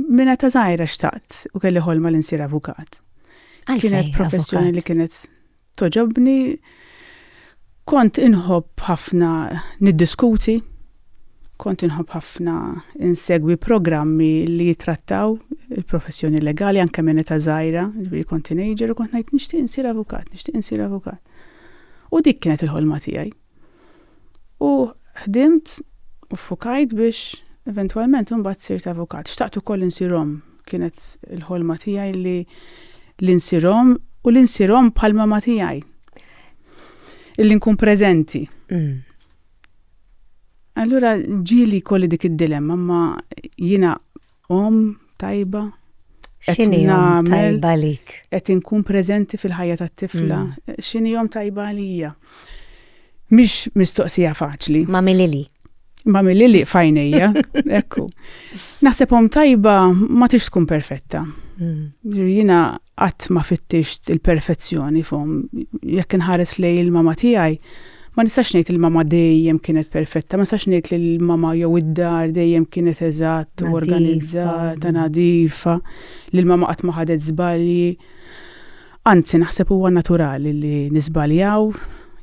Minn età żgħira xtaqt u kelli ħolma li nsir avukat. Kienet professjoni li kienet toġobni. Kont inħobb ħafna niddiskuti, kont inħobb ħafna insegwi programmi li jitrattaw il-professjoni legali anke minn ta' żgħira, ġifieri kont teenager u kont ngħid nixtieq insir avukat, nixtieq insir avukat. U dik kienet il-ħolma tiegħi. U ħdimt u ffukajt biex eventwalment imbagħad sirt avukat. Xtaqt ukoll li nsir omm. Kienet il-ħolma tiegħi li li nsir omm u li nsir omm bħal mama tiegħi. Illi nkun preżenti. Mm. Allura ġieli kolli dik id-dilemma ma jiena Omm tajba. X'inhi omm tajba lik? Qed inkun preżenti fil-ħajja tat-tifla. Mm. X'inhi omm tajba għalija? Mhix mistoqsija faċli. Ma milili. Ma milili fajnejja, ekku. Naħseb omm tajba ma tix tkun perfetta. Mm. Jina qatt ma fittixt il-perfezzjoni fom. Jekk inħares lej il-mama tiegħi, Ma nistax ngħid il-mama dejjem kienet perfetta, ma nistax ngħid li l-mama jew id-dar dejjem kienet eżatt u organizzata, nadifa, li l-mama qatt ma ħadet żbalji. Anzi, naħseb huwa naturali li niżbaljaw,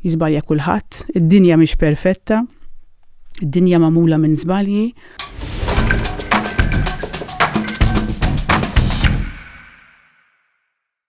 jiżbalja kulħadd, id-dinja mhix perfetta, id-dinja magħmula minn żbalji.